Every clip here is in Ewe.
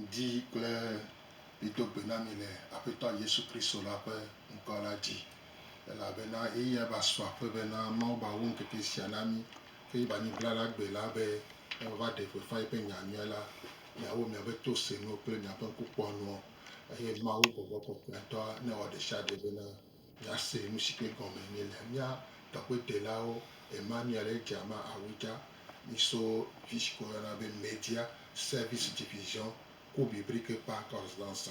Ŋdi kple ɣli do gbe na mi le Aƒetɔ Yesu Kristo la ƒe ŋkɔ la dzi, elabena ɣeyiɣia va su aƒe be na Mawu ba wu ŋkeke sia na mi, ke yi ba nyi blala gbe la be ne wòava ɖe gbeƒã yiƒe nya nyuia la, miawo miaƒe to senuwo kple miaƒe ŋkukpɔnuwo, eye Mawu gbɔgbɔ kɔkɔetɔa newɔ ɖesiaɖe bena Míase nu si ke gɔme enye le mía tɔgbedelaawo ema mía ɖe dza ma awu dza. Míso fi si ke woyɔna be Media Service Division ku Biblique par Correspondance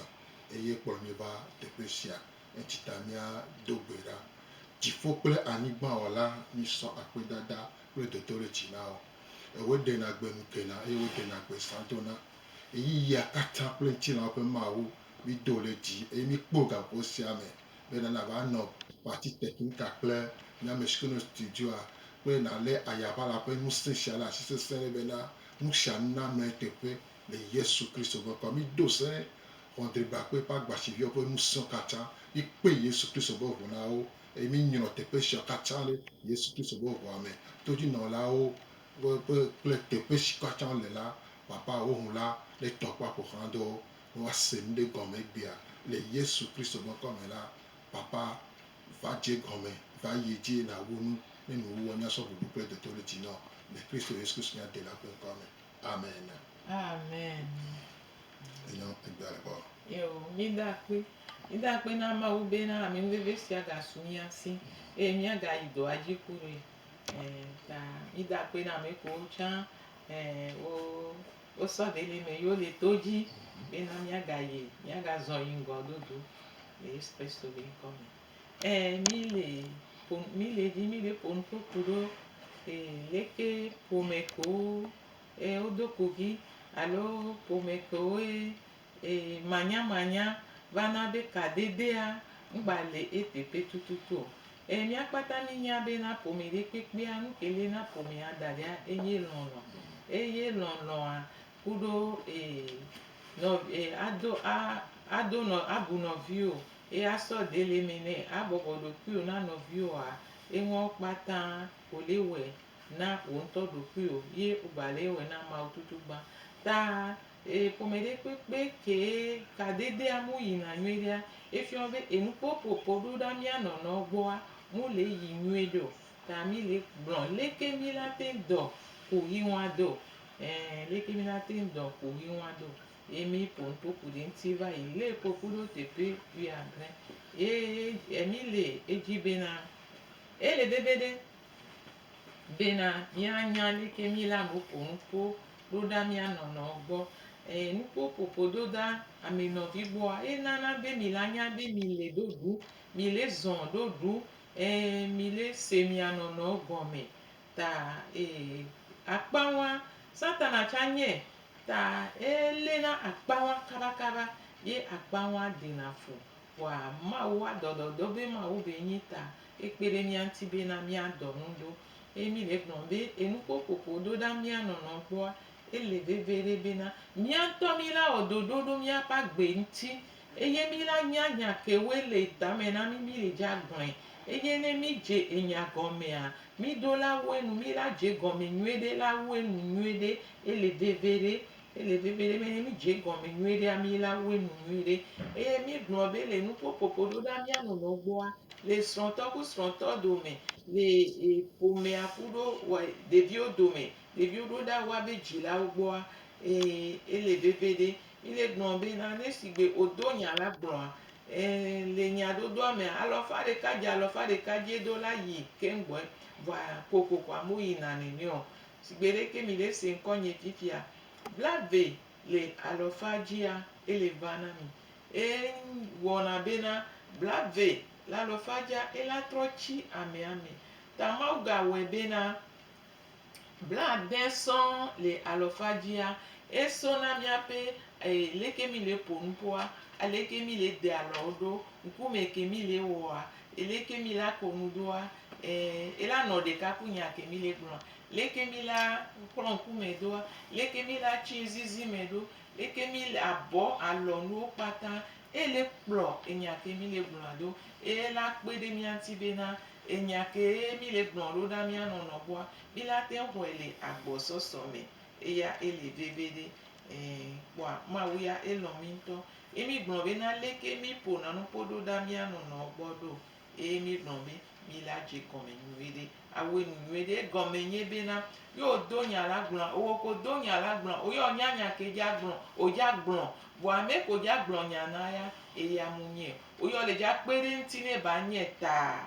eye kplɔ mí va teƒe sia. Enti ta mía do gbe ɖa. Dziƒo kple anyigba Wɔla, mísɔ akpedada kple dodoɖedzi na wò. Ewɔe ɖena gbe nu kena eye woɖena gbe zã dona. Ɣeyiɣia katã kple ŋutilãwo ƒe Mawu, Mido ɖe dzi eye mikpɔ gaƒoƒo sia me be nana va nɔ Parti Technica kple mía ame siwo nɔ studioa kple nalé Ayaʋala ƒe ŋusẽ sia ɖe asi sesẽ ɖe bena nusianuname teƒe le Yesu Kristo ƒe ŋkɔa. Mido se Xɔdrigbakpe ƒe agbatsiviawo ƒe ŋusẽwo katã. Mikpe Yesu Kristo ƒe ʋu na wo eye minyrɔ teƒe siawo katã ɖe Yesu Kristo ƒe ʋua me. Todzinɔlawo kple teƒe siwo katã wole la, Papa, wò ŋu la netɔ kple aƒoxlãdɔwo Woase nuɖe gɔme egbea le Yesu Kristo ƒe ŋkɔ me la, Papa, va dze egɔme, va yi edzi nàwu nu ne nuwuwɔ nya sɔ bubu kple dotoɖedzi nɔ le Kristo Yesu Kristo mía Dela ƒe ŋkɔa me. Amen. Amen. Enyo egbea le kpɔ. Eo, mida akpe. Mida akpe na Mawu bena amenuveve sia gasu mía si eye míagayi dɔa dzi kurae. Ẽ, ta mida akpe na ame kewo tsã ẽ wo Wosɔ ɖeli me yi wole to dzi bena míagayi, míagazɔ yi ŋgɔ dodo le Yesu Kristo be ŋkɔ me. Ẽ, míle ƒo, míle dzi mí be ƒo nuƒo ku ɖo e, leke ƒome kewo e wodo kugi alo ƒome kewoe Ee, manyamanya vana be kadedea ŋgba le eteƒe tututu o. Ee, mía kpata mínya be na ƒome ɖe kpekpea, nu ke li na ƒomea daɖia enye lɔlɔ̃. Eye lɔlɔ̃a ku ɖo, ee, nɔ, ee, ado, a, ado nɔ, abu nɔviwò, eye asɔ de le eme nɛ, abɔbɔ ɖokuiwò na nɔviwòa, enuawo kpata wò le wɔe na wò ŋutɔ ɖokuiwò ye wò gba le ewɔe na Mawu tutugbã. Ta E ƒome ɖe kpekpe kee kadedea mu yina nyuiɖea, efiɔ be enukpɔkpɔkpɔ ɖo ɖa mía nɔnɔ gbɔa mu le yi nyuiɖe o. Ta mi le gblɔ leke mi la te ŋu dɔ ku ɣi ŋu ado. Ẽ, leke mi la te ŋu dɔ ku ɣi ŋu ado. Ye mi ƒo nukpokpu ɖe ŋuti va yi le kpokpu ɖo teƒe wuiadre. Ye e mi le edzi be na ele veve ɖe. Bena míanya nu ke míle amewo ƒo nu ƒo ɖo ɖa mía nɔnɔewo gbɔ. Eye nukuwo ƒoƒo ɖo ɖa ame nɔvi gbɔa, enana be mi la nya be mi le ɖo ɖu, mi le zɔ ɖo ɖu, eye mi le se mia nɔnɔewo gɔme. Ta eye akpawa, Satana tsa nyɛ ta ele na akpawa kaba kaba ye akpawa ɖena fu. Vɔa Mawu wa dɔdɔdɔ be Mawu be nyi ta. Ekpe ɖe mía ŋuti bena míadɔ nu ɖo. Eye mí le gblɔm be enuƒo ƒoƒo ɖo ɖa mía nɔnɔ gbɔa, ele veviɖe bena mía ŋutɔ mí la wɔ ɖoɖo ɖo míaƒe agbe ŋuti eye mí la nya nya kewoe le tame na mí mí le dze agblɔe. Eye ne mí dze enya gɔmea, mí ɖo la wu enu, mí la dze egɔme nyuiɖe la wu enu nyuiɖe. Ele veviɖe Ele vevie be ne míedze egɔme nyuiɖe amee la, wue nu nyuiɖe. Eye míegblɔ be le nuƒoƒoƒo ɖo ɖa mía nɔnɔewo gbɔa, le srɔ̃tɔ ku srɔ̃tɔ dome, le ƒomea ku ɖo ɖeviwo dome, ɖeviwo ɖo ɖa woa be dzilawo gbɔa, ee, ele vevie ɖe. Míle gblɔ be na ne sigbe wodo nya la gblɔa, ee, le nyadodoa mea, alɔfa ɖeka dze alɔfa ɖeka dzi do la yi keŋ gbɔe. Vɔa kokoko amewo yina nene o. si gbeɖeke mi ɖe se ŋkɔ nye fifia, blave le alɔfa dzia, ele ʋã na mi. Eye ŋwɔna bena blave le alɔfa dzia, ela trɔ tsi amea me. Ta Mawu ga wɔe bena, blade sɔ̃ le alɔfa dzia, esɔ na miaƒe leke mi le ƒo nuƒoa, aleke mi le de alɔwo ɖo, ŋkume ke mi le wɔa, Eleke mi la ko nu doa? E, ela nɔ ɖeka ku nya ke mi le gblɔa. Leke mi la kplɔ ŋku me doa? Leke mi la tsi zizi me ɖo? Leke mi le abɔ alɔ nuwo kpata? E le kplɔ enya ke mi le gblɔa do. E la kpe ɖe mía ŋuti be na enya ke mi le gblɔ ɖo ɖa mía nɔ nɔƒoa, mi la te xɔe le agbɔsɔsɔ me. Eya ele veveɖe. E, kpɔa Mawu ya elɔ mi ŋutɔ. Ye mígblɔ be, Na leke míeƒona nu kpɔ ɖo ɖa mía nɔnɔewo gbɔ ɖo? Eye míegblɔ be, Mí la dze egɔme nyuiɖe. Awɔe nu nyuiɖe. Egɔme nye be na, ye wòdo nya la gblɔa, wò ko do nya la gblɔa, wò ya wònya nya ke dza gblɔ, wòdza gblɔ. Vɔa ame ke wòdza gblɔ nya na ya, eya mu nyɛ o. Wò ya wòle dza kpe ɖe eŋuti ne ba nyɛ taa.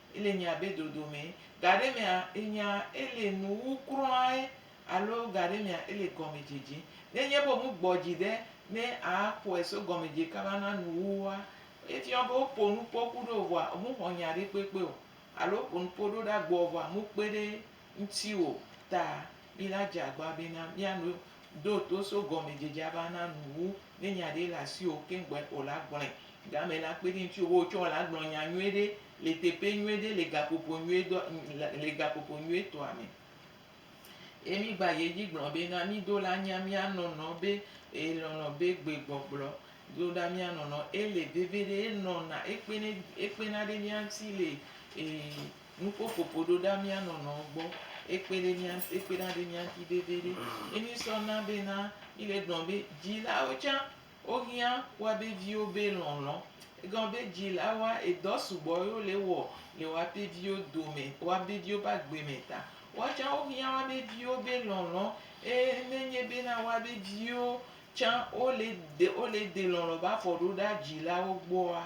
ele nya be dodomɛ, gaɖemea enya ele nuwu kruae alo gaɖemea ele gɔmedzedze. Nenye be womu gbɔdzi ɖe ne akpɔe so gɔmedze kaba na nuwuwua, efiɔ be wopo nupo ku ɖo vɔa womu xɔ nya ɖe kpekpe o alo wopo nupo ɖo ɖa gbɔ vɔa mu kpe ɖe ŋutiwò ta, mila dze agba bena miano do to so gɔmedzedzea va na nu wu ne nya ɖe le asiwò keŋ gbɔe o la gblɔe. Game la kpe ɖe ŋutiwò be wotsɔ la gblɔ nya nyui ɖe le teƒe nyui ɖe le gaƒoƒo nyui dɔ le gaƒoƒo nyui tɔa me. Ye mi gba yi edzi gblɔ bena mido la nya mia nɔnɔ be e lɔlɔ be gbe gbɔgblɔ do ɖa mia nɔnɔ ele veve ɖe enɔna ekpena ekpena ɖe mia ŋuti le e Nuko ƒoƒo ɖo ɖa mía nɔnɔ gbɔ ekpe ɖe mía ŋuti ekpe ɖa ɖe mía ŋuti veviɖe. Ye mi sɔ na be na mi le gblɔ be dzilawo tsã wo hiã woa be viwo be lɔlɔ. Egɔme be dzilawo wa edɔ sugbɔ ye wo le wɔ le woa be viwo dome woa be viwo be agbe me ta. Woa tsã wo hiã woa be viwo be lɔlɔ eye ne nye be na woa be viwo tsã wo le de wo le de lɔlɔ va fɔ ɖo ɖa dzilawo gbɔa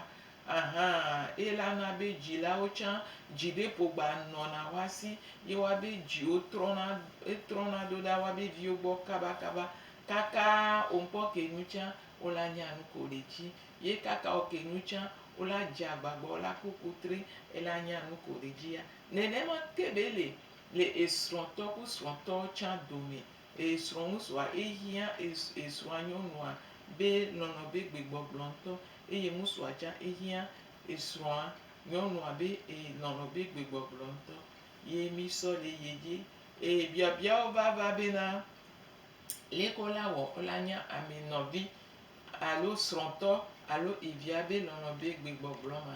Ahan eye la na be dzilawo tsã dzi ɖe ƒogba nɔna woasi ye woabe dziwo trɔna trɔna ɖo ɖa woabe viwo gbɔ kabakaba kaka wonkpɔ ke nu tsã wola nya nu ko ɖe tsi ye kaka wo ke nu tsã wola dze agbagba wola ku ku tri ela nya nu ko ɖe dzi ya nenema ke be le le esrɔ̃tɔ ku srɔ̃tɔ tsã dome Ee srɔ̃ŋutsua, ee hiã, ee ee srɔ̃anyɔnua be nɔnɔ be gbegbɔgblɔ ŋutɔ, eye ŋutsua tsã ee hiã, ee srɔ̃a nyɔnua be ee nɔnɔ be gbegbɔgblɔ ŋutɔ. Ye mi sɔ le ye dzi. Ee biabiawo va va be na, leke wo la wɔ wo la nya ami nɔvi alo srɔ̃tɔ alo evia be nɔnɔ be gbegbɔgblɔ ma?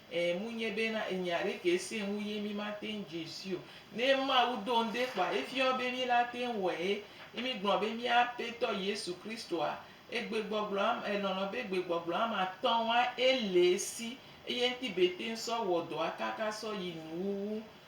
E munye be na enya ɖekɛ se ŋu ye mi ma teŋ dze si o. Ne Mawu do ŋde kpɔa, efiɔ be mi la teŋ wɔe ye mi gblɔ be mía Apetɔ Yesu Kristoa e gbegbɔgblɔ am e lɔlɔ be gbegbɔgblɔ am atɔ wa e le esi eye ŋti be teŋ sɔ wɔ dɔa kaka sɔ yi nuwuwu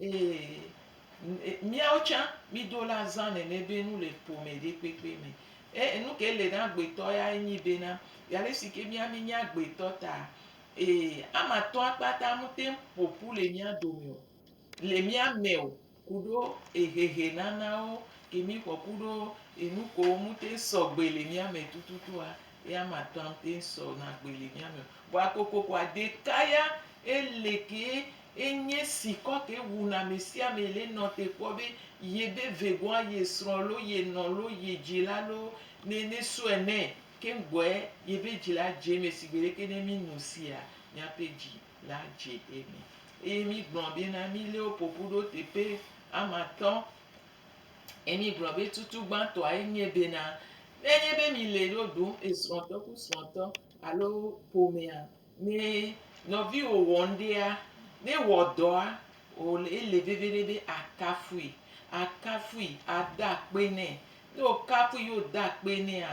Ee, míawo tsã mído le azã nɛnɛ be nu le ƒome ɖe kpekpe me. E enu ke le na agbetɔ ya enyi bena, ya le si ke mía mínye agbetɔ ta, ee, ame atɔ̃a kpata mete ŋu ƒo ƒu le mía dome o, le mía me o, ku ɖo ehehe nanawo ke mí xɔ ku ɖo enu kewo mete ŋu sɔ gbe le mía me tututua, ye ame atɔ̃a mete ŋu sɔ na gbe le mía me o. Vɔa kokoko ɖeka ya ele ke Enye si kɔte wu na mesiame le nɔ te kpɔ be ye be vegoa ye srɔ lo ye nɔ lo ye dzila lo ne ne sɔe nɛ keŋ gbɔe ye be dzila dze me si gbedeke ne mi nu sia miape dzi la dze eme eye mi gblɔ be na mi le wo ƒoƒu ɖo teƒe amatɔ eye mi gblɔ be tutu gbãtɔa enye be na ne nye be mi le ɖo ɖum esrɔtɔ ku srɔtɔ alo ƒomea Ne nɔviwò wɔ ŋɖea, ne ewɔ dɔa, wòle ele veviɖe be àkafui, àkafui, àda akpe nɛ. Ne wòkafui ye wòda akpe nɛa,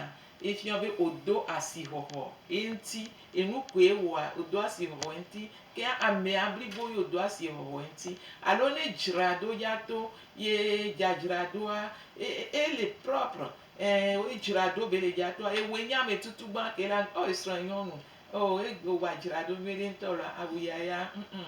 efia be wòdo asixɔxɔ eŋuti. Enu koe wɔa, wòdo asixɔxɔ eŋuti. Ke amea blibo ye wòdo asixɔxɔ eŋuti. Alo ne edzra ɖo ya to ye dzadzra ɖoa, e, e, ele propre, ɛɛ, edzra ɖo be le dza toa, ewɔe nye ametutu gbã ke la, ɔ, esrɔ̃nyɔnu Oh e wòa dzra ɖo nyuiɖe ŋutɔ alo awu yaya ŋu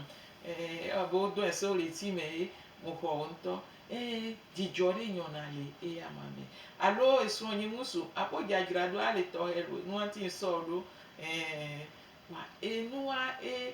e ewɔ abe wo dɔe so le eti me ye mo xɔ wo ŋutɔ e dzidzɔ ɖe nyɔna le eya ma me alo esrɔ nyi ŋusu aƒo dza dzra ɖo ale tɔxɛ lo nua ŋuti ŋsɔ ɖo e wa enua e.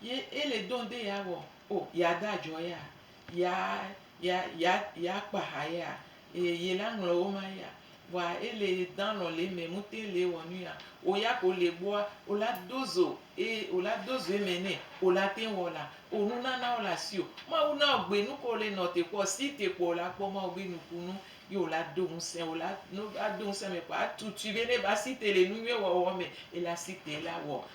Ye ele dɔn de ya wɔ o ya da jɔ ya ya ya ya ya kpa ha ya e ye la ŋlɔ wo ma ya wa ele dan lɔ le me mu te le wɔ nu ya o ya ko le gbɔa o la do zo e o la do zo eme ne o la te wɔ la o nu nana o la si o ma wu na o gbe nu ko le nɔ te kpɔ si te kpɔ o la kpɔ ma o be nu ku nu ye o la do ŋusẽ o la no a do ŋusẽ me kpɔ a tutui be ne ba si te le nu nyuie wɔ wɔ me e la si te la wɔ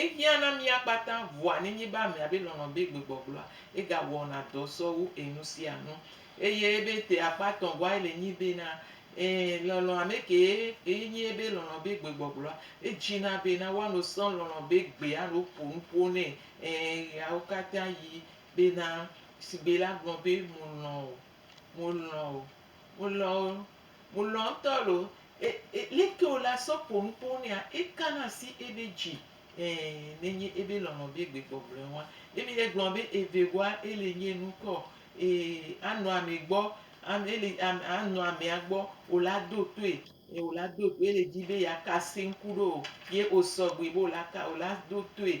Ehiã na mía kpata vɔa nenye be amea be lɔlɔ̃ be gbegbɔgblɔa, ega wɔna dɔ sɔ wu enu sia nu. Eye ebe ete akpa tɔ̃ vɔa ele nyi bena, ẽ, lɔlɔ̃ ame kee kee nyi ebe lɔlɔ̃ be gbegbɔgblɔa, edzi na bena woano sɔ lɔlɔ̃ be gbe alo ƒo nuƒo nɛ, ẽ, ɣeawo katã ɣi bena, sigbe la gblɔ be, Mo lɔ̃ o, mo lɔ̃ o, mo lɔ̃ o. Mu lɔ ŋtɔ lo. E e leke o la sɔ po nupo nɛa eka na asi ebe dzi e ne nye ebe lɔlɔ be gbe gbɔ gblɔe wa. Ebe e gblɔ be eve goa e le nye nu kɔ e a nɔ ame gbɔ a e le a a nɔ amea gbɔ o la do toe. E o la do toe e le dzi be ya ka se ŋku ɖo o ye o sɔ gbe be o la ka o la do toe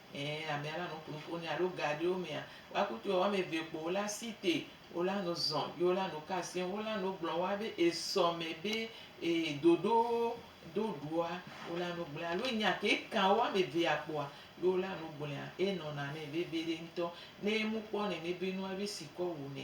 Ẽ, amea la nɔ kplɔ̃ ƒonɛ alo gaɖiwo mea, woa kutu ewɔ ame eve kpo wo la si te wo la nɔ zɔ̃ ye wo la nɔ ka asem. Wo la nɔ gblɔm woa be esɔ me be e dodo do ɖoa wo la nɔ gblɔe alo nya ke kan wo ame evea kpoa ye wo la nɔ gblɔea enɔna nɛ veviɖe ŋutɔ. Ne emu kpɔ nɛnɛ be nua be sikɔ wonɛ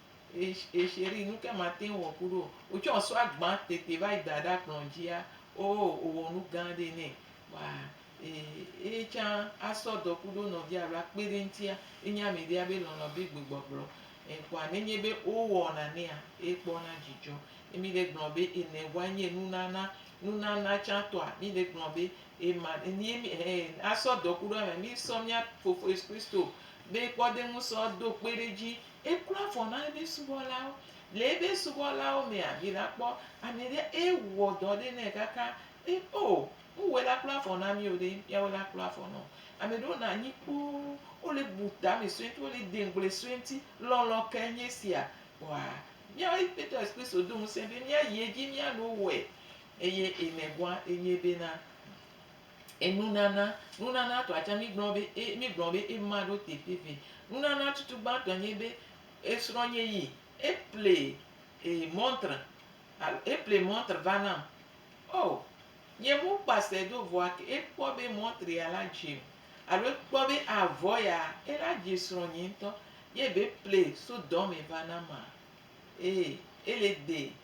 E chérie, nu ke mate ŋu wɔ ku ɖo. Wotsɔ esɔa gbã tete va yi da ɖe akplɔ dzia, oo, wòwɔ nu gã aɖee nɛ. Kpɔa eye tsã asɔ dɔ ku ɖo nɔvia alo akpe ɖe eŋutia, enye ame ɖee abe lɔlɔ̃ be gbegbɔgblɔ. Kpɔa ne enye be wowɔna nɛa, ekpɔna dzidzɔ. Ye mí ɖe gblɔ be ene vɔa enye nunana. Nunana tsã tɔa, mí ɖe gblɔ be ema, ye mí, ɛɛ, asɔ dɔ ku ɖo amea, mísɔ mía Fofo Yesu Kristo be kpɔɖeŋu sɔ do kpe ɖe edzi Ekpɔa vɔ na eƒe subɔlawo. Le eƒe subɔlawo mea, vi la kpɔ ame ɖe eye wòwɔ dɔ aɖe nɛ kaka be, O, nuwɔe la kpɔa vɔ na mí o ɖe, míawoe la kpɔa vɔ na wò. Ame ɖewo nɔa anyi kpoo, wole bu tame sue ŋutɔ, wole de ŋugble sue ŋuti. Lɔlɔ̃ kae nye esia? Kpɔa, míawo Aƒetɔ Yesu Kristo do ŋusẽ be míayi edzi míano wɔe. Eye emegɔa, enye bena, Enunana. Nunana tɔa tsɛ, mígblɔ be e, mígblɔ be ema ɖo teƒe vɛ. Nunana tutu gbãtɔe nye be esrɔ̃nye yi eple e montre alo eple montre va nam. O, nye mu kpa se do vɔa ke ekpɔ be montre ya la dze o alo ekpɔ be avɔ ya ela dze srɔ̃nye ŋutɔ ye be ple so dɔme va na maa? E, ele de.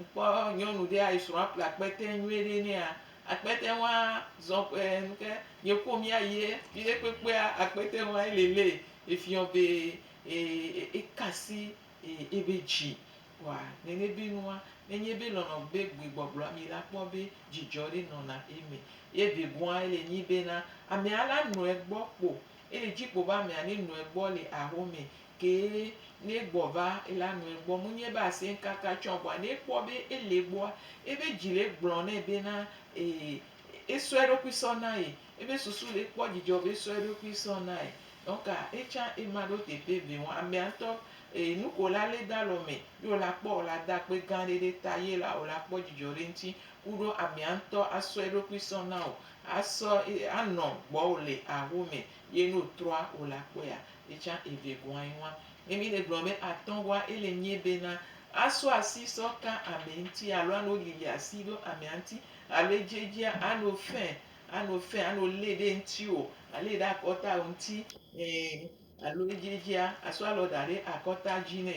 Ŋkpɔ nyɔnu ɖea esrɔ̃a ƒle akpɛtɛ nyuie ɖe nɛa, akpɛtɛ wa zɔn ƒe nu ke ye ko mia yie viɖe kpekpea akpɛtɛ wa ele le efiɔ be ekasi ebe dzi. Wa nene be nua nenye be lɔlɔ be gbe gbɔgblɔ mi la kpɔ be dzi dzɔ ɖe nɔna eme. Ye be gua ele nyi be na amea la nɔe gbɔ kpo ele dzi kpo be amea ne nɔe gbɔ le aho me Ke ne egbɔ va, ela nu egbɔ. Mu nye be asɛ ŋkaka tsɔ agbɔa, ne ekpɔ be ele egbɔa, ebe dzi le egblɔ nɛ be na ee, esɔ eɖokui sɔ na ye. Ebe susu le ekpɔ dzidzɔ be esɔ eɖokui sɔ na ye. Donka etsã ema ɖo teƒe ve ŋu. Amea ŋtɔ ee, nuke wo la le da le eme ye wo la kpɔ, wo la da akpe gã ɖe ɖe ta ye la wo la kpɔ dzidzɔ ɖe ŋuti ku ɖo amea ŋtɔ asɔ eɖokui sɔ na wò, asɔ ee, anɔ gbɔwò le aho me. Ye ne otrɔa o la kpɔea, etsã evegɔae ŋua. Ne mi le gblɔm be atɔgɔa ele nyie bena, asɔ asi sɔ ka ame ŋti alo ano lili asi ɖo amea ŋti alo edzedzia ano fẽ ano fẽ ano lé ɖe ŋtiwo ale ɖe akɔtawo ŋti, e, alo edzedzia asɔ alɔ daɖe akɔta dzi nɛ.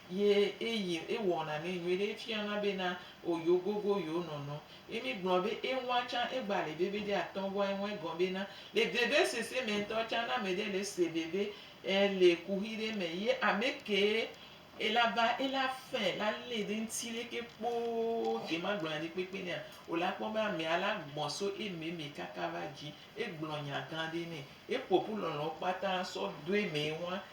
Ye eyi e wɔna nɛ nyuiɖe, e fiana be na o yewo gogo yewo nɔnɔ. Ye mi gblɔ be e ŋua can e gba le veve ɖe atɔ goa e ŋua egɔn be na. Le veve sese mɛ ŋtɔ can na ame ɖe le se veve e le kuxi ɖe mɛ ye ame ke e la va e la fɛ la le ɖe ŋti leke kpoo ke ma gblɔna ɖi kpekpe nɛa o la kpɔ be amea la gbɔn so eme mɛ kaka va dzi. E gblɔ nya gan ɖe nɛ. E ƒoƒu lɔlɔ kpata sɔ doe mɛ ŋua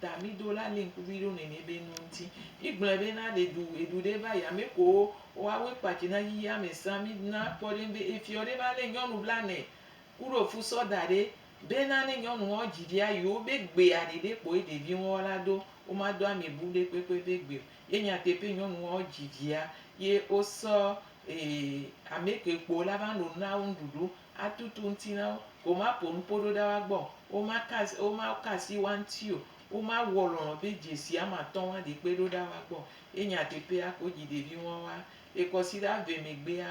Da mi do la le ŋkuvi ɖo ne mi be nu ŋti. Mi gblɔɛ be na ɖe ɖu eɖu ɖe va ya me ko wa we kpa dzi na yiyi ame sa mi na kpɔ ɖe ŋbe efiɔ ɖe va le nyɔnu bla nɛ ku ɖo fu sɔ da ɖe be na ne nyɔnu ŋɔ dzi ɖia yi wo be gbea ɖe ɖe kpo eɖe vi ŋɔ la do wo ma do ame bu ɖe kpekpe be gbe o ye nya te pe nyɔnu ŋɔ dzi via ye wo sɔ e ame ke kpo la va no na wo ŋɖuɖu atutu ŋuti na wo, womaƒo nu ƒo ɖo ɖa woagbɔ o, womaka asi, womaka asi wo ŋuti o, womawɔ lɔlɔ̃ be dzesi ame atɔ̃ woaɖe kpe ɖo ɖa woagbɔ o. Ye nyateƒea, ko dzi ɖevi ŋuawoa, ye kɔsiɖa vɛ megbea,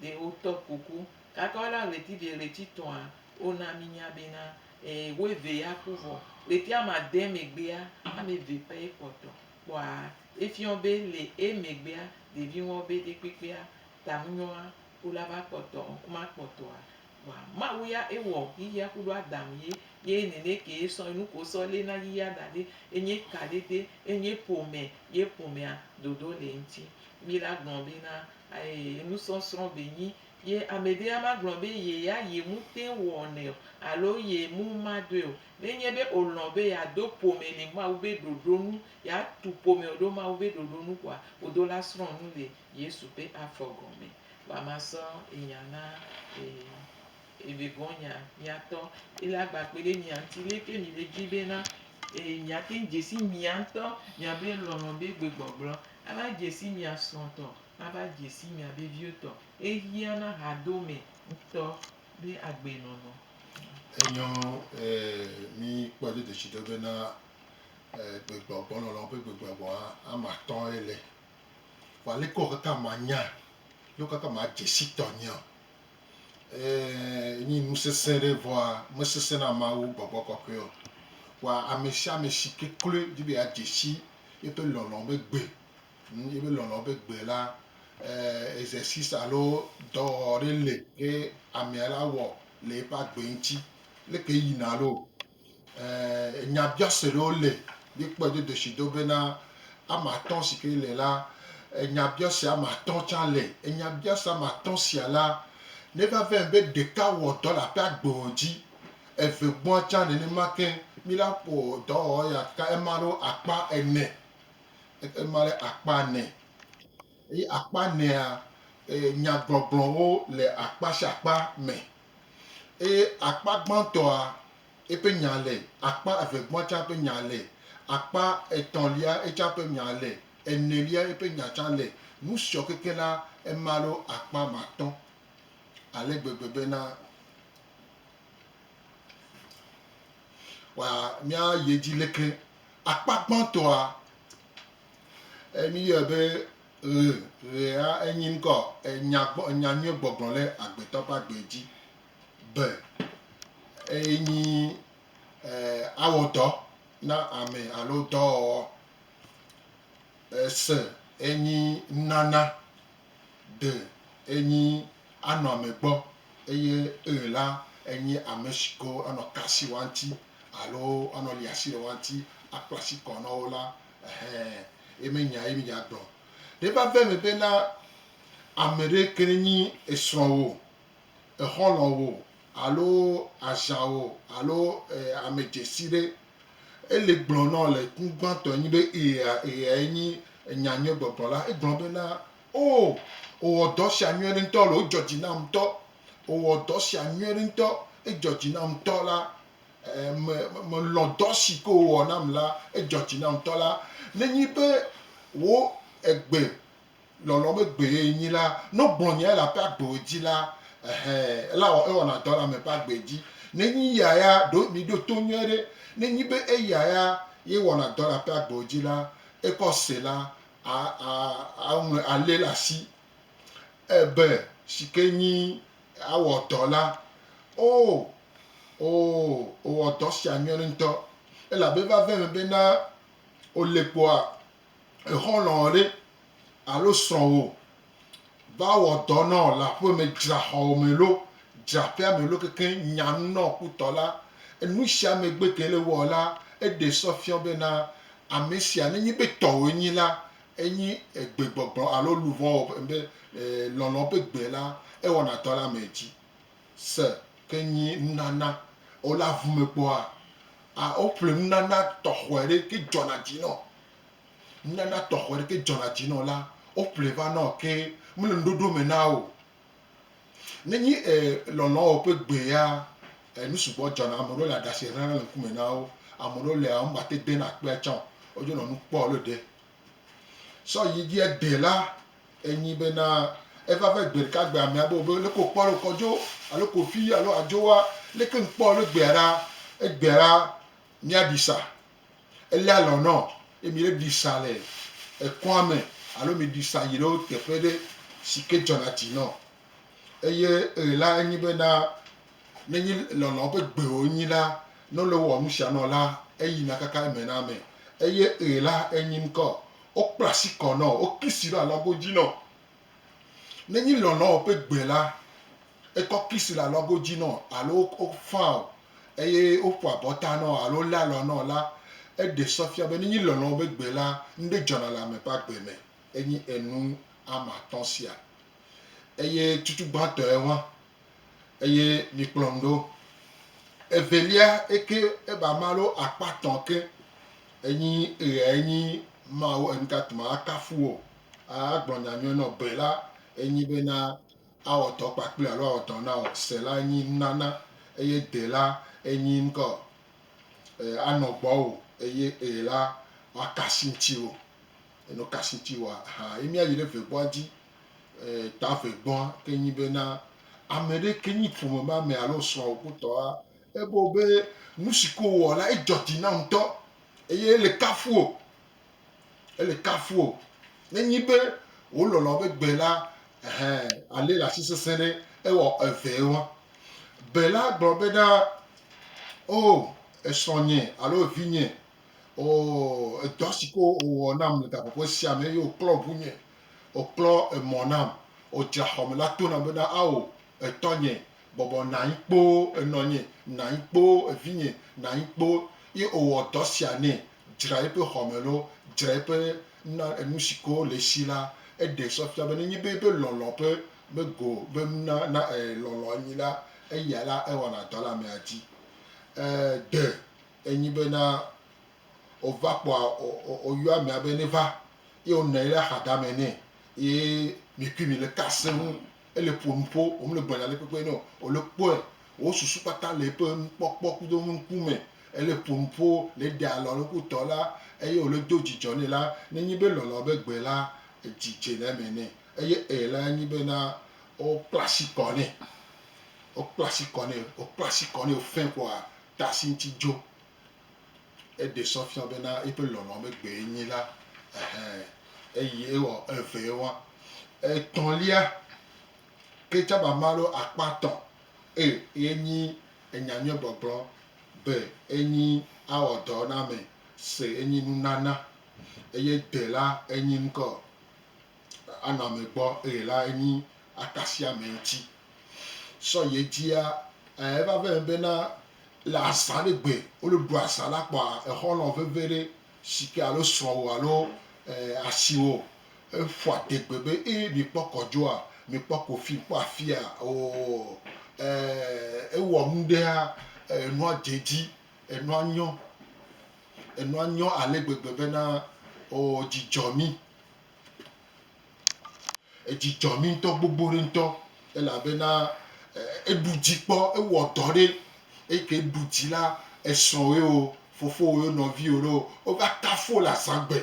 ɖe wotɔ kuku. Kaka woɖe ɣleti vɛ ɣleti tɔ̃a, wona mínya bena, ẽ, wo eve ya ku vɔ. Ɣleti ame ade megbea, ame eve pɛ ye kpɔtɔ. Kpɔa, efiɔ be le emegbea, ɖevi ŋuawo be ɖekpekpea, tanunyɔa, Ku la va kpɔtɔ ŋku ma kpɔtɔa vɔa Mawu ya e wɔ yiyia kuɖo Adam ye ye nɛnɛ ke e sɔ enu ko sɔ le na yiyia da ɖe enye ka ɖe de enye ƒome ye ƒomea dodo le eŋti. Mi la gblɔ be na ae enu sɔ srɔ be nyi ye ame ɖe ama gblɔ be ye ya ye mu tɛn wɔ nɛ o alo ye mu ma doe o. Ne nye be o lɔn be ya do ƒome le Mawu be ɖoɖo nu ya tu ƒome o ɖo Mawu be ɖoɖo nu kɔa, ƒodo la srɔ nu le Yesu ƒe afɔ gɔme. Vɔa masɔ enya na e vegɔ̃ nya miatɔ. Ele agba kpe ɖe mia ŋuti lé ke mile dzi bena e miate ŋu dze si mia ŋutɔ miabe lɔlɔ̃ be gbegbɔgblɔ ava dze si mia srɔ̃ tɔ, ava dze si miabe viwo tɔ. Ehia na hadome ŋutɔ be agbe nɔnɔ. Enyɔ e mi kpɔ dodoshi ɖo bena e gbegbɔgbɔ lɔlɔ̃ ƒe gbegbɔgbɔ hã ama tɔ̃ ele. Vɔ aleke wɔ kaka manya ye wo kaka madze si tɔnyea? Ɛɛ, nyi nu sesẽ ɖe, vɔa mesesẽ na Mawu gbɔgbɔ kɔkɔe o. Vɔa amesiame si kekloe di be yeadze si yeƒe lɔlɔ̃ be gbe, hm, yeƒe lɔlɔ̃ be gbe la, ɛɛ, exercice alo dɔwɔwɔ ɖe li ke amea la wɔ le eƒe agbe ŋuti. Leke yina loo. Ɛɛ, nyabiase ɖewo le. Míekpɔe do ɖeshido bena ame atɔ̃ si ke le la, nyabiase ame atɔ̃ tsã le. Nyabiase ame atɔ̃ sia la, ne va vɛ be ɖeka wɔ dɔ le aƒe agbewo dzi, eve gbɔa tsã nenema ke mí la ƒo dɔwɔwɔ ya ka ema ɖo akpa ene. Ema ɖe akpa ene. Eye akpa enea, nyagbɔgblɔwo le akpa sia akpa me, eye akpa gbãtɔa, eƒe nya le, akpa evegbɔa tsã ƒe nya le, akpa etɔ̃lia etsã ƒe nya le, enelia eƒe nya tsã le, nu siɔ kekeŋ la, ema ɖo akpa matɔ̃, ale gbegbe bena, wa, míayi edzi lekle. Akpa gbãtɔa. E mi yɔɛ be ɣe, ɣea enyi ŋkɔ enya gbɔ, enya nyuie gbɔgblɔ le agbetɔ ƒe agbe dzi be eye nyi e awɔ dɔ na ame alo dɔwɔwɔ. E se enyi nunana de enyi anɔ ame gbɔ eye ɣe la enyi ame si ko anɔ kasi woa ŋuti alo anɔ li asi le woa ŋuti akpla asi kɔ nɔwo la. Ɛhɛ, ye me nya ye mi dza gblɔ. Ɖe va vɛ me be na ame ɖe ke ne nyi esrɔ̃wò, exɔlɔwò alo aʒanwò alo e, ame dzesi ɖe e le gblɔ nɔ le ŋkugbãtɔ nyi be eya eya ye nyi enya nyui gbɔgblɔ la, e gblɔ be na, O, o wɔ dɔ sia nyui ɖe ŋutɔ le, o dzɔ dzi nam ŋutɔ, o wɔ dɔ sia nyui ɖe ŋutɔ, e dzɔ dzi nam ŋutɔ la, Me, melɔ̃ dɔ si ke wòwɔ nam la, edzɔ dzi nam ŋutɔ la. Nenye be wò egbe lɔlɔ̃m egbee nyi la, ne wogblɔ nyae le aƒe agbewo dzi la, ɛhɛ, elawɔ, ewɔna dɔ le ame ƒe agbe dzi. Nenye eya ya, ɖo miɖo to nyuie ɖe, nenye be eya ya ye wɔna dɔ le aƒe agbewo dzi la, ekɔ Sela a, a, aŋlɔe, alée le asi. Ebe si ke nyi Awɔ dɔ la. Oo, oo, wòwɔ dɔ sia nyuie ŋutɔ. Elabe vave me be na wòle kpoa, exɔlɔ̃wò ɖe alo srɔ̃wò va wɔ dɔ na wò le aƒe me, dzra xɔwò me lo, dzra aƒea me lo kekeŋ, nya nu na wò kpotɔ la. Enu sia megbe ke le ewɔ la, eɖe sɔ fiɔ be na ame sia, nenye be tɔwòe nyi la, Enyi egbe gbɔgblɔ alo luʋɔ wɔ ƒe be e lɔlɔ ƒe gbe la ewɔna dɔ le ame dzi. Se ke nyi nunana o le avu me kpɔa, a woƒle nunana tɔxɔe ɖe ke dzɔna dzi nɔ. Nunana tɔxɔe ɖe ke dzɔna dzi nɔ la, woƒle va nɔ ke mele nuɖoɖo me na o. Ne nyi e lɔlɔ̃ ɔ ƒe gbe ya, e nu sugbɔ dzɔna. Ame ɖewo le aɖasɛ hlɛna le ŋkume na wo. Ame ɖewo lea, wo ŋgba te de na kpea tsã o. Wo dzo nɔ nu kpɔ le ɖe. Sɔ yi dzi ede la, e nyi be na e va ve gbeɖeka gbe amea be wo leke wo kpɔ le kɔdzo alo kofi alo adzo wa, leke ŋ kpɔ le gbea ɖa. Egbea ɖa mia ɖi sa Eléa lɔ̃ nɔ ye mi ɖe ɖi sa le ekɔa me alo mi ɖi sa yi ɖe wo teƒe ɖe si ke dzɔna dzi nɔ. Eye ɣe la enye be na ne nyi lɔlɔ ƒe gbe wo nyi la, ne wole wowɔ nu sia nɔ la, eyi na kaka eme na ame. Eye ɣe la enyi ŋkɔ, wokpla asi kɔ nɔ, wo kisi ɖo alɔgo dzi nɔ. Nenyi lɔlɔ̃ ƒe gbe la, ekɔ kisi le alɔgo dzi nɔ alo wofaa o eye woƒo abɔta nɔ alo wolé alɔ nɔ la, eɖe sɔ fia be nenyi lɔlɔ̃ ƒe gbe la, nuɖe dzɔna le ame ƒe agbe me. Enye enu ame atɔ̃ sia eye tutu gbãtɔe wã Eye mi kplɔm ɖo. Evelia eke eba malo akpa tɔn ke enyi eɣe enyi Mawu enutatuma akafu wo a agblɔ nya nyɔe nɔ be la enyi be na awɔ tɔ kpakple alo awɔ tɔ na o se la enyi nunana eye de la enyi ŋkɔ e anɔ gbɔ o eye eɣe la woakasi ŋti wo eno kasi ŋti wo a ha ye mi ayi ɖe ve gbɔa dzi tavegɔa ke nyi be na ame ɖe ke nyi ƒome me ame alo srɔ̃wò kpotɔa, ebe wo be nusi ke wowɔ la edzɔ dzi na wo ŋutɔ eye ele kafu wò. Ele kafu wò. Ne nyi be wò lɔlɔ̃ be gbe la, ɛhɛ, alé le asi sesẽ ɖe ewɔ evee wa. Be la gblɔ be na, O, esrɔ̃nye alo evinye, o, edɔ si ke wowɔ nam le gaƒoƒo sia me eye woklɔ ŋunye, Òklɔ emɔ nam, òdzra xɔme la to nam bena, Ao, etɔnye, bɔbɔ nɔ anyi kpoo, enɔnye, nɔ anyi kpoo, evinye, nɔ anyi kpoo. Ye wòwɔ dɔ sia nɛ, dzra eƒe xɔme loo, dzra eƒe na enu si ke le esi la. Eɖee sɔ fia be nenye be eƒe lɔlɔ̃ ƒe mego be nuna na e lɔlɔ̃ enyi la, eya la ewɔna dɔ le amea dzi. E de enyi bena wòva kpɔa, wòyɔa amea be neva eye wònɔ anyi ɖe axadame nɛ eye mikui mile ka se ŋu. Ele ƒo nu ƒo, womele gblɔ nya ɖekpekpe nɛ o. Wòle kpɔe, wò susu kpata le eƒe nukpɔkpɔ kudo eƒe ŋku me. Ele ƒo nu ƒo le eɖe alɔ le eɖokui tɔ la eye wòle do dzidzɔ nɛ la. Ne enye be lɔlɔ̃ be gbe la, dzi dze le eme nɛ eye ɛ la enye be na wokpla asi kɔ nɛ. Wokpla asi kɔ nɛ, wokpla asi kɔ nɛ fɛ̃ koa, ta asi ŋuti dzo. Eɖe sɔ fia bena eƒe lɔlɔ̃ megbee nyi la. Ɛhɛ. Eye ewɔ evee wa. Etɔ̃lia, ke tsãmama alo akpa tɔ̃ e ye nyi enya nyuie gbɔgblɔ be enyi awɔ dɔ na ame se enyi nunana. Eye de la enyi ŋkɔ. anɔ ame gbɔ eye la enyi akasia ame ŋuti. Sɔ yi edzia, e, eva vɛ eme bena le azã ɖe gbe wole ɖu azã la kpɔa, exɔ nɔ veve ɖe sike alo srɔ̃wò alo, e, asiwò eƒo adegbe be, E, mi kpɔ kɔdzoa? Mi kpɔ kofi? Mi kpɔ afia? Oo, e, ewɔ nu ɖea, e, enua dze edzi, enua nyɔ, enua nyɔ ale gbegbe bena, oo, dzi dzɔ mi Edzi dzɔ mí ŋutɔ gbogbo ɖe ŋutɔ elabena eɖu dzi kpɔ, ewɔ dɔ ɖe. Eyi ke ɖu dzi la, esrɔ̃wòe o, fofowòe o, nɔviwò ɖe o, wova kafu wò le azãgbe.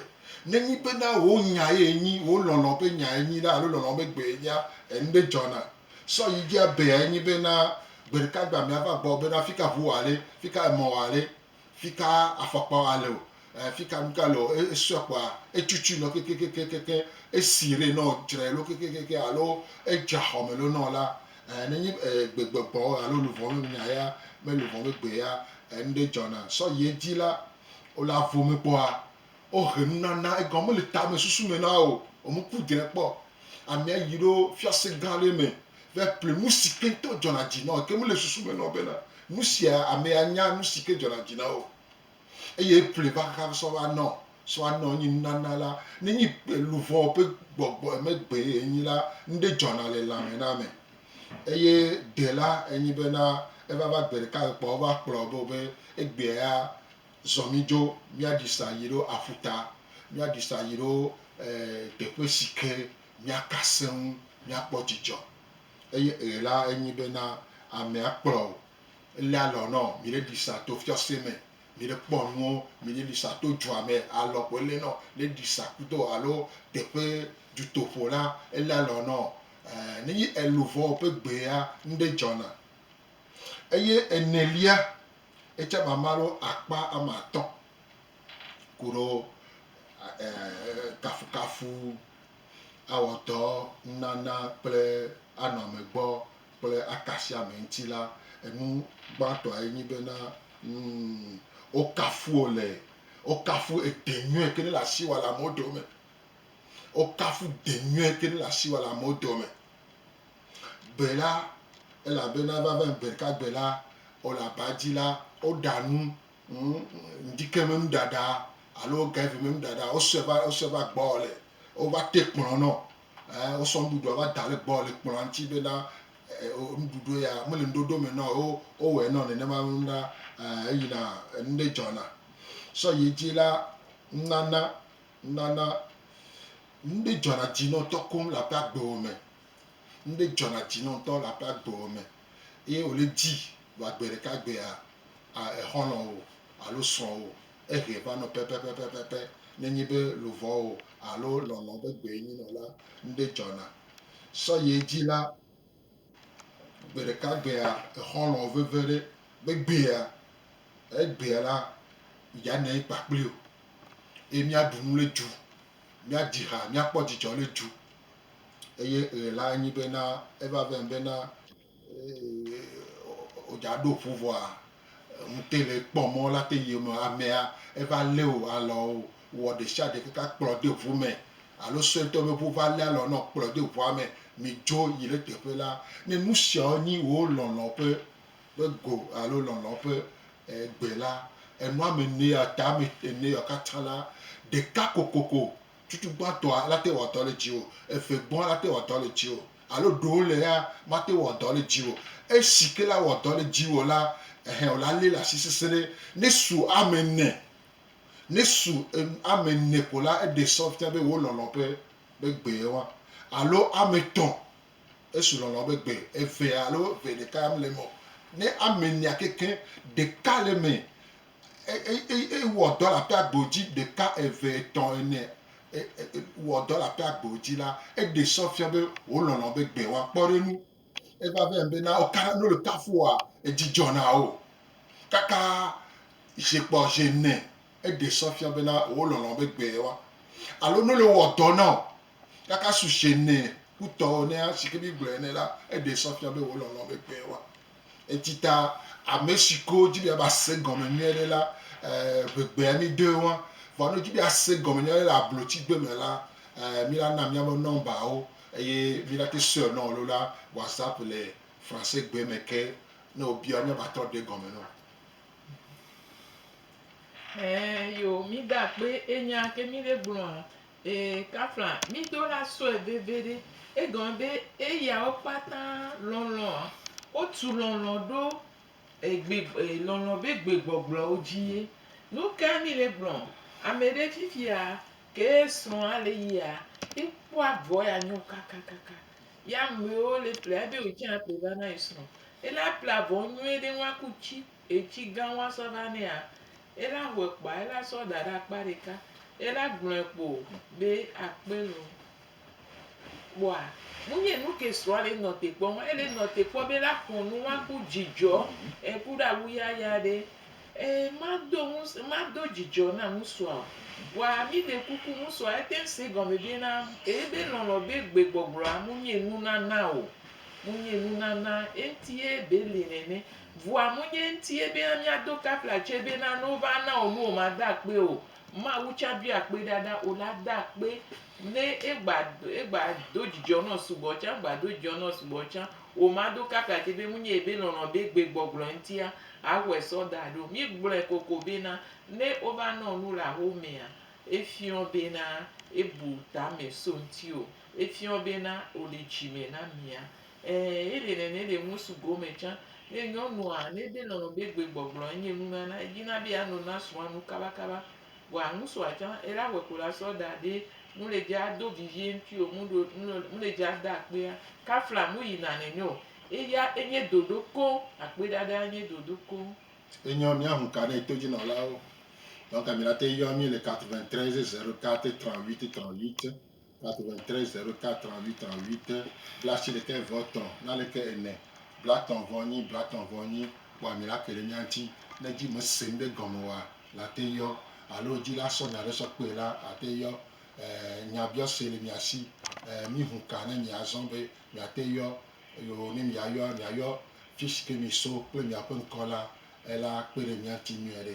Nenye bena wò nya ye enyi, wò lɔlɔ̃ ƒe nya ye enyi la alo lɔlɔ̃ be gbee enyia, enu ɖe dzɔna. Sɔ yi dzi ebea enye bena gbeɖeka gbea ame ava gbɔwò bena, Fika ʋu wɔ ale? Fika emɔ wɔ ale? fika afɔkpawo ale o, e fika nuka ale o, e esɔ kpoa etutu nɔ kekekekekekeŋ, esi ɖe nɔ dzre lo kekekekekeŋ alo edza xɔme lo nɔ la, e ne nyi e gbegbɔgbɔ o alo luvɔ me nya ya me luvɔ me gbe ya, enuɖe dzɔna sɔ yi edzi la, o la vome kpɔa, Wohe nunana, egɔme mele tamesusu me na wò o, wò ŋku dre kpɔ. Amea yi ɖo fiase gã aɖe me va ƒle nu si ke ŋutɔ dzɔna dzi na wò, ke mele susu me na wò bena nu sia amea nya nu si ke dzɔna dzi na wò o. Eye eƒle va xaxa sɔ va nɔ, sɔ va nɔ enye nunana la. Nenye gbe luʋɔ ƒe gbɔgbɔ megbee enye la, nuɖe dzɔna le lãme na ame. Eye gbe la enye bena eva va gbe ɖeka ɣe kpɔa wova kplɔ be wo be egbea ya Zɔ mí dzo míaɖi sa yi ɖo aƒuta, míaɖi sa yi ɖo teƒe si ke míaka seŋ míakpɔ dzidzɔ. Eye ɣe la enyi be na amea kplɔ o. Ele alɔ nɔ mi ɖe ɖi sa to fiase me, mi ɖe kpɔ nuwo, mi ɖe ɖi sa to dua me, alɔ ko ele nɔ le ɖi sa kudo alo teƒe dutoƒo la, ele alɔ nɔ. Nenye eluvɔ ƒe gbea, nuɖe dzɔna. Eye enelia, etsɛ mama ɖo akpa ame atɔ̃ koɖo kafukafu awɔdɔ nunana kple anɔ ame gbɔ kple aka asi ame ŋuti la, enu gbãtɔe nye bena wokafu wò le, wokafu ede nyuie ke ne le asi wɔ le amewo dome. Wokafu de nyuie ke ne le asi wɔ le amewo dome. Gbe la, elabena vava ŋ gbe ɖeka gbe la, ɔ le aba dzi la, ɔ ɖa nu, ŋ ŋdike me nu ɖaɖa alo ŋ gaivi me nu ɖaɖa, ɔ sɔɛ va, ɔ sɔɛ va gbɔ ɔ le, ɔ va te kplɔn nɔ, ɛ ɔ sɔ nuɖuɖua va da le gbɔ ɔ le kplɔa ŋti be na ɛ ɔ nuɖuɖue ya me le nuɖoɖo me nɔ ɔ o, ɔ wɔɛ nɔ nenema ŋ na ɛ eyina enuɖe dzɔna. Sɔ yi edzi la, ŋ nana, ŋ nana nuɖe dzɔna dzi nɔ tɔkoŋ le aƒe agbewo me. Nuɖe dzɔna dzi nɔ ŋtɔ le aƒe agbewo me eye wòle dzi be gbe ɖeka gbea, exɔlɔ̃wò alo srɔ̃wò ehɛ va nɔ pɛpɛpɛpɛpɛ. Ne enye be luʋɔwò alo lɔlɔ̃wò ƒe gbee nyi nɔ la, nuɖe dzɔna. Sɔyie dzi la, gbe ɖeka gbea, exɔlɔ̃wò veve ɖe be gbea, egbea la, yia nɔ anyi kpa kpli wò eye míaɖu nu le du, míadzi ha, míakpɔ dzidzɔ le du eye ɣe la nyi bena eva vɛ bena wodza ɖo ƒu vɔa ŋute le kpɔ mɔ la te yi me amea eva lé o alɔ o wɔ ɖesiaɖe kaka kplɔ de ʋu me alo suetɔ be ʋu va lé alɔ nɔ kplɔ de ʋua me mi dzo yi ɖe teƒe la ne nusiawo nyi wo lɔlɔ ƒe ƒe go alo lɔlɔ ƒe gbe la enua me ne atame ene yɔ katã la ɖeka kokoko Tsutsu gbãtɔa nate wɔ dɔ le dziwò, eve gbɔa nate wɔ dɔ le dziwò, alo ɖewo le ya mate wɔ dɔ le dziwò. Esi ke la wɔ dɔ le dziwò la, ɛhɛ wòla lé le asi sesẽɖe. Ne su ame ene, ne su ame ene ko la, eɖe sɔ fia be wo lɔlɔ̃ be be gbe ye wa. Alo ame etɔ̃, esu lɔlɔ̃ be gbe eve alo eve ɖeka ya mele eme o. Ne ame enea kekeŋ ɖeka le eme eye wɔ dɔ le aƒea gbo dzi ɖeka, eve, etɔ̃, ene, wɔ dɔ le aƒea gbo dzi la, eɖe sɔ fia be wòlɔlɔ̃ be gbe woakpɔ ɖe enu. Eva be be na wo katã ne le kafua, edzi dzɔna wo. Kaka zi kpɔ zi ene, eɖe sɔ fia be na wòlɔlɔ̃ be gbe wa. Alo ne le wɔ dɔ na o, Kaka sushɛ nɛ kutɔ ene a shike mi gblɔɛ ene la, eɖe sɔ fia be wo lɔlɔ be gbɛ wa. Etita ameshiko dji be ava se gɔme nyuiɖe la, eh, be gbea mi de wa. Vɔa ne wo dji be a se gɔme nyuiɖe le ablotsi gbe me la, eh, mi la na miabe nɔmba wo eye mi la te sɔɛ nɔn lo la whatsapp le français gbe me ke ne wo bia mi a va trɔ ɖe gɔme nɔn. Ɛɛ yo, mi da kpe enya ke mi ɖe gblɔa Ee, kafla mí do la sɔe veviɖe. Egɔme be eyawo kpata lɔlɔ̃a, wotu lɔlɔ̃ ɖo egbe, lɔlɔ̃ be gbegbɔgblɔwo dzi ye. Nukae mí le gblɔ? Ame ɖe fifia ke esrɔ̃a le yia, ekpɔa vɔ ya nyo kakakaka. Ye amewo le ƒlea ebe wòtsã aƒle va na ye srɔ̃. Ele aƒle avɔ nyuie ɖe ŋu aku tsi. etsi gã woa sɔ va nɛa, ela hɔɛ kpoa ela sɔ da ɖe akpa ɖeka, ela gblɔɛ kpo be akpe lo. Kpoa nu nye nu ke srɔa le nɔ te kpɔ ma, ele nɔ te kpɔ be ela xɔ nu wa ku dzidzɔ e ku ɖe awu yaya ɖe. E ma do ŋus ma do dzidzɔ na ŋusua o. Vɔa mi ɖe kuku ŋusua ete ŋu se gɔme be na ebe lɔlɔ be gbe gbɔgblɔa mu nye nunana o. Mu nye nunana eŋti ye be li nene. Vua munye ŋtie bena miado kapla tse bena ne wova na wò nuwo ma da akpe o. Mawu tsa doi akpe ɖaɖa o la da akpe ne egba egba do dzidzɔ nɔ sugbɔ tsa gba do dzidzɔ nɔ sugbɔ tsa o ma do kapla tse be munye ebe lɔlɔ be gbe gbɔgblɔ ŋtia a xɔe sɔ da ɖo. Mi gblɔe koko bena ne wova nɔ nu le axo mea efiɔ bena ebu tame so ŋtiwo efiɔ bena wole dzime na mia Ɛɛ, eɖe nɛnɛ ɖe ŋusu gome tsã. Nɛ nyɔnua nede nɔnɔ be gbegbɔgblɔ enye nunana, edina be yeano na srɔ̃a nu kabakaba. Vɔa ŋusua tsã, ele awɔe ko la sɔ da ɖe mle dze ado vivie ŋtui o, mɖo, mle, mle dze ada akpea. Kafla mu yina nɛnɛ o. Eya enye dodo koŋ. Akpeɖaɖaa nye dodo koŋ. Enyɔ míahu ka nɛ todzinɔlawo. Donc, mìate yɔ mí le 93 04 38 38. 93 04 38 38 blaasiɖekɛ vɔ tɔ nalɛkɛ ene blatɔ vɔ nyi blatɔ vɔ nyi kpɔa mi la keɖe mia ŋti ne dji me se ŋɖe gɔme oa la te yɔ alo dji la sɔ nya ɖe sɔ kpɔe la ate yɔ eh nya biɔ se le mia si eh mi hu ka ne mia zɔ be mia te yɔ eo ne mia yɔa mia yɔ fisike mi so kple mia ƒe ŋkɔ la ela kpeɖe mia ŋti nyuiɖe.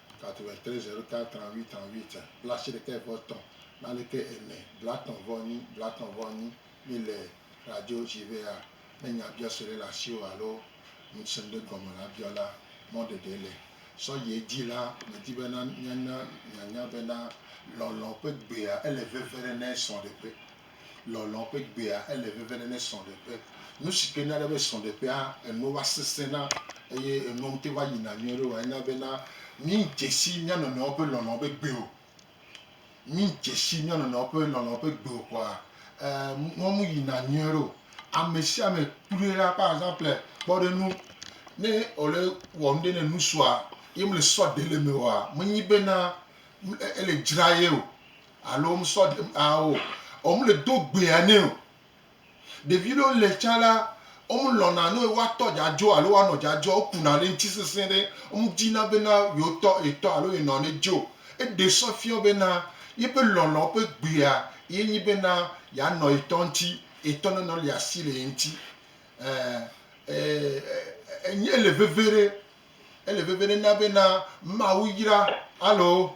830338 blaasiɖekɛvɔetɔ̃ blaadeke ene blaatɔ̃vɔenyi blaatɔ̃vɔenyi Mi le radio dzi be a Ne nya biɔ si ɖe le asiwò alo ŋusẽ ɖe gɔme la biɔ la, mɔ ɖeɖe le sɔyie dzi la, medi be na míana mianya bena lɔlɔ̃ ƒe gbea ele veve ɖe ne esɔ ɖe ƒe. Lɔlɔ̃ ƒe gbea ele veve ɖe ne srɔ̃ɖeƒe. Nu si ke na ɖe be srɔ̃ɖeƒea enu va sesẽna eye enua ŋuti va yina nyuie ɖo woa, ena bena míedze si mía nɔnɔewo ƒe lɔlɔ̃ ƒe gbe o. Míedze si mía nɔnɔewo ƒe lɔlɔ̃ ƒe gbe o kɔa, e nua me yina nyuie ɖo. Ame sia ame kloe la, par exemple, kpɔ ɖe ŋu, ne wòle wɔ nuɖe ne ŋutsua ye mele sɔ ɖe le eme oa, menye bena ele dzra ye o. Alo wo me sɔ ɖem aa o. Wo me le do gbea nɛ o. Ɖevi ɖewo le tsã la, wo me lɔ̃na ne woa tɔ dza dzo alo woa nɔ dza dzo, wo kuna ɖe eŋuti sesẽ ɖe. Wo me di na be na yewo tɔ, ye tɔ alo ye nɔ ne dzo. Eɖe sɔ fiɔ be na yeƒe lɔlɔ̃ ƒe gbea ye nyi be na ya nɔ ye tɔ ŋuti, ye tɔ ne nɔ lia asi le ye ŋuti. E, e, e, e, ele veve ɖe, ele veve ɖe na be na Mawu yra. Alo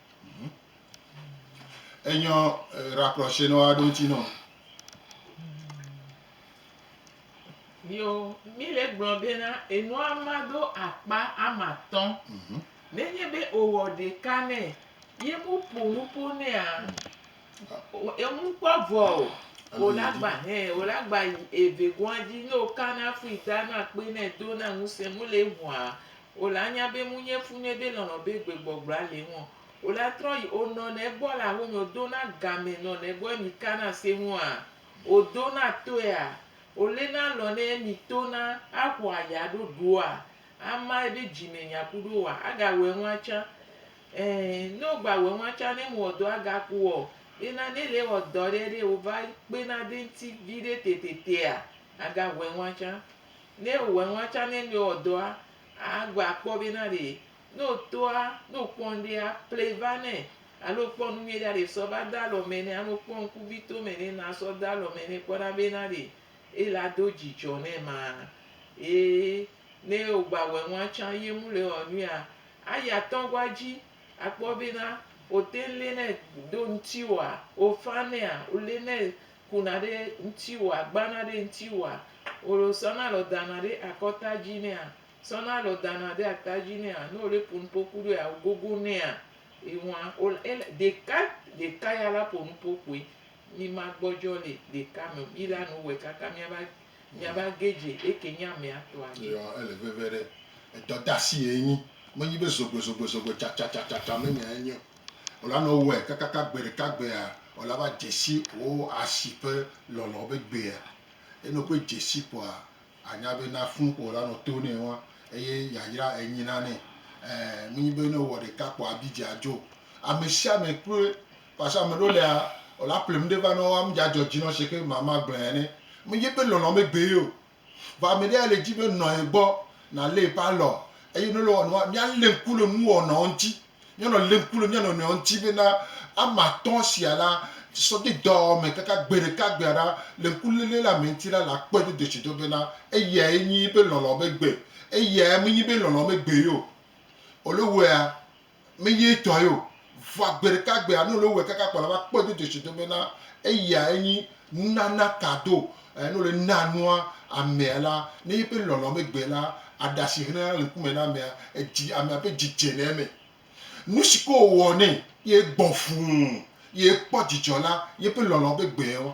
Enyɔ rakplɔshe nɔ aɖo ŋuti nɔ. Yo, mi le gblɔ bena enua ma ɖo akpa ama tɔ. Nenye be owɔ ɖeka nɛ ye mu ƒo nu ƒo nɛa, ŋu kpɔ vɔ o. Wo la gba hɛ, wo la gba yi eve gɔa dzi. Ne wo ka na fui ta na kpe nɛ do na ŋuse mu le ŋua, O la nya be ŋu nye fu nɛ be lɔlɔ be gbe gbɔgblɔa le eŋuɔ? O la trɔ yi o nɔ nɛ gbɔ la ho me o do na game nɔ nɛ gbɔ emi ka na se ŋu a? O do na toe a? O le na lɔ nɛ emi to na a xɔ a ya ɖo ɖo a? A ma ebe dzi me nya ku ɖo wa? A ga wɛ ŋu a can? Ɛ, ne o gba wɛ ŋu a can ne mu wɔ dɔ a ga ku ɔ? Ena ne le wɔ dɔ ɖe ɖe o va kpe na de ŋti viɖe tete te a? A ga wɛ ŋu a can? Ne ewɔ enua tsã ne ne wɔ dɔa, agba akpɔ be na ɖe ne wotɔa, ne wokpɔ ŋɖe aple va nɛ, alo wokpɔ nu nyuie ɖe aɖe sɔ va de alɔ me nɛ, alo wokpɔ ŋkuvito me ɖe na sɔ de alɔ me nɛ kpɔ na be na ɖe ela do dzidzɔ nɛ ma. Ye ne wogba wɔ enua tsã ye mu le wɔ nuia, ayi atɔ gua dzi akpɔ be na wote ŋu le nɛ do ŋuti oa, wofa nɛa, wole nɛ kuna ɖe ŋtiwoa, gbana ɖe ŋtiwoa, olo sɔna lɔ dana ɖe akɔta dzi nɛa, sɔna lɔ dana ɖe ata dzi nɛa, ne ole po nupo ku ɖoea o gogo nɛa, ewa ol ele ɖeka ɖeka ya la po nupo koe. Mi ma gbɔdzɔ le ɖeka me o, mi la nu wɛ kaka mia va mia va ge dze eke nye amea tɔa dzi. Eyɔ ele veve ɖe. Edɔdasi ye enyi. Menyi be zogbe zogbe zogbe tsa tsa tsa tsa tsa me nya ye nyi o. Wòla nɔ wɔe kakaka gbe ɖeka gbea, wòla va dze si wò asi ƒe lɔlɔ̃ be gbea. Eye ne wòkpɔe dze si koa, ànya be na fũu ko wòla nɔ to nɛ wa eye yayra enyi na nɛ. Ẽ, menye be ne wòwɔ ɖeka kpɔ abi dzi adzo o. Ame sia ame kloe. Parce que ame ɖewo lea, wòla pleŋ ɖe va nɔ wo, amedzadze dzi nɔ wo se ke mama gblɔe ene. Menye be lɔlɔ̃ megbe ye o, Vɔ ame ɖe ya le dzi be nɔ ye gbɔ, nalé eƒe alɔ, eye ne wòle wɔ nua, míalé ŋku le nuwɔwɔnɔwo ŋuti. Míanɔ lé ŋku le mía nɔnɔewo ŋuti bena ame atɔ̃ sia la, sɔdzidɔwɔwɔ me kaka gbe ɖeka gbea ɖa le ŋkuléle la me ŋuti la, le akpɔe do dzesido bena eyae nyi eƒe lɔlɔ̃ be gbe, eyae menyi eƒe lɔlɔ̃ be gbee o. Wòle wɔea? Menye etɔe o. Vɔa gbeɖekagbea, ne wòle wowɔe kaka kpɔa, ava kpɔe do dzesido bena eya enyi nunana kado. Ne wòle naa nua amea la, ne yeƒe lɔlɔ̃ megbee la, aɖe asi hlẽna le ŋkume na amea, edzi, amea ƒe dzi dzena eme. Nusi ke wòwɔ nɛ ye gbɔ fũu, ye ekpɔ dzidzɔ la, yeƒe lɔlɔ̃ ƒe gbee wa.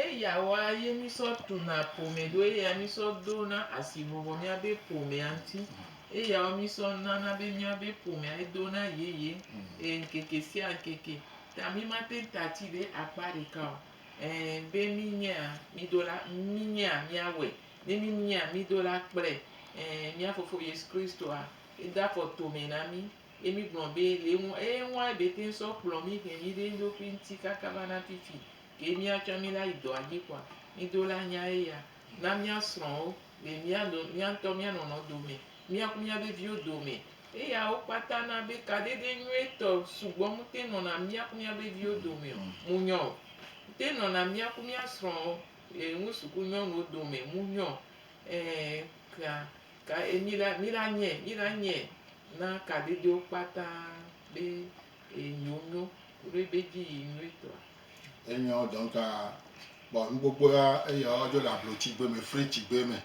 Eya wɔa ye mi sɔ tuna ƒome ɖo eya mi sɔ do na asi vɔvɔ mia be ƒomea ŋti. Eya wɔ mi sɔ nana be mia be ƒomea ye do na yeye e ŋkeke sia ŋkeke. Ta mi ma teŋ ta ti ɖe akpa ɖeka o. E be mi nyea mi do la mi nyea mia wɛ ne mi nyea mi do la kple e mia fofo Yesu Kristo a e da fɔ tome na mi ye mi gblɔ be le ŋu eye ŋua e be teŋ sɔ kplɔ mi he mi ɖe eŋɖokui ŋti kaka va na fifi. Ke mía tsã míla yi dɔa dzi kɔa, mído la nya eya. Na mía srɔ̃wo le mía no mía ŋutɔ mía nɔnɔ dome, mía ku mía veviwo dome. Eya wo kpata na be kaɖeɖe nyuietɔ sugbɔ mute nɔna mía ku mía veviwo dome o. Mu nyɔ o. Mute nɔna mía ku mía srɔ̃wo le ŋu suku nyɔnuwo dome. Mu nyɔ. Ẽ, ka, ka e míla, míla nyɛ, míla nyɛ na kaɖeɖewo kpata be e yi wo nyo, koɖo ebe dzi yi nyuietɔa. Enyɔ dɔnka kpɔ nukpokpo ya eya ɔdzɔ le ablo tsigbe me fre tsigbe me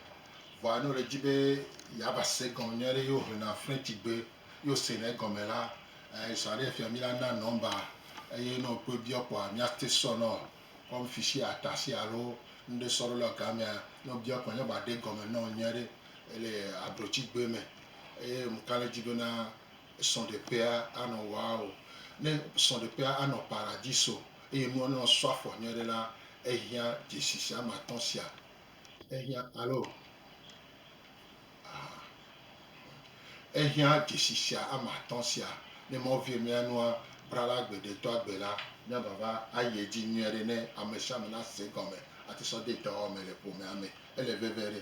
vɔa ne wòle dzi be yeava se gɔme nyui aɖe ye wohlena fre tsigbe ye wosena egɔme la esa ɖe afia míana nɔmba eye ne wòkpɔe biɔ kpɔa míate sɔ nɔ kɔm fisi ata si alo ŋɖe sɔ ɖo le gamea ne wòbiɔ kpɔ ne wòaɖe gɔme nɔ nyui aɖe ele ablo tsigbe me eye ŋka le dzi bena srɔ̃ɖeƒea anɔ waɔ? Ne srɔ̃ɖeƒea anɔ paradiso eye nua nɔ sɔ afɔ nyuie ɖe la, ehiã dzesi sia ame atɔ̃ sia. Ehiã, alo? Aa. Ehiã dzesi sia ame atɔ̃ sia. Ne Mawu vie mía nua bra la gbe ɖe do agbe la, mía vava ayi edzi nyuie ɖe ne ame sia ame nase egɔme ate sɔ de dɔwɔwɔ me le ƒomea me. Ele veve ɖe!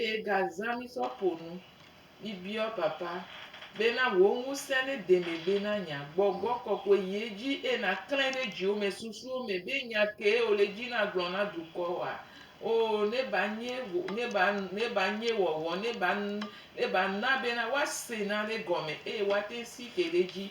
Eye gazã mi sɔ ƒonu, mi biɔ Papa be na wò ŋusẽ ne de megbe na nya, gbɔgbɔ kɔkɔe yi edzi eye na klãe ɖe dziwo me susuwo me be nya kee wò le dzi na gblɔ na dukɔ wa. Oo, ne ba nye wò, ne ba, ne ba nye wɔwɔ, ne ba, ne ba na be na woa se nane gɔme eye woa te ŋu si ke ɖe edzi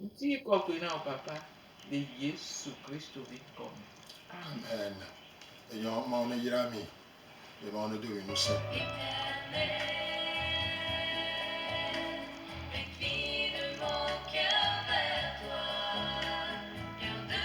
Ŋuti kɔkɔe na wò Papa le Yesu Kristo ƒe ŋkɔ me. Amen. Enyɔ Mawu neyra mi eye Mawu nedo mi ŋusẽ.